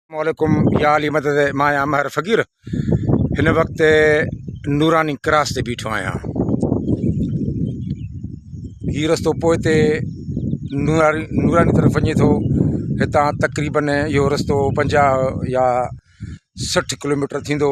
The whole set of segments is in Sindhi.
اسلام عليڪم يا علي مدد مان آهيان ماهر فقير هن وقت نوراني ڪراس تي بيٺو آهيان هي رستو پوئي تي نوراني نوراني طرف وڃي ٿو هتان تقريبن اهو رستو پنجاهه يا سٺ ڪلوميٽر ٿيندو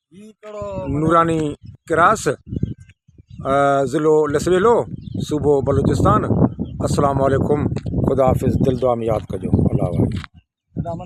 نوراني ڪراس ضلعو لسريلو صوبو بلوچستان السلام عليڪم خدا حافظ دل دعا مي ياد ڪجو الله حوالي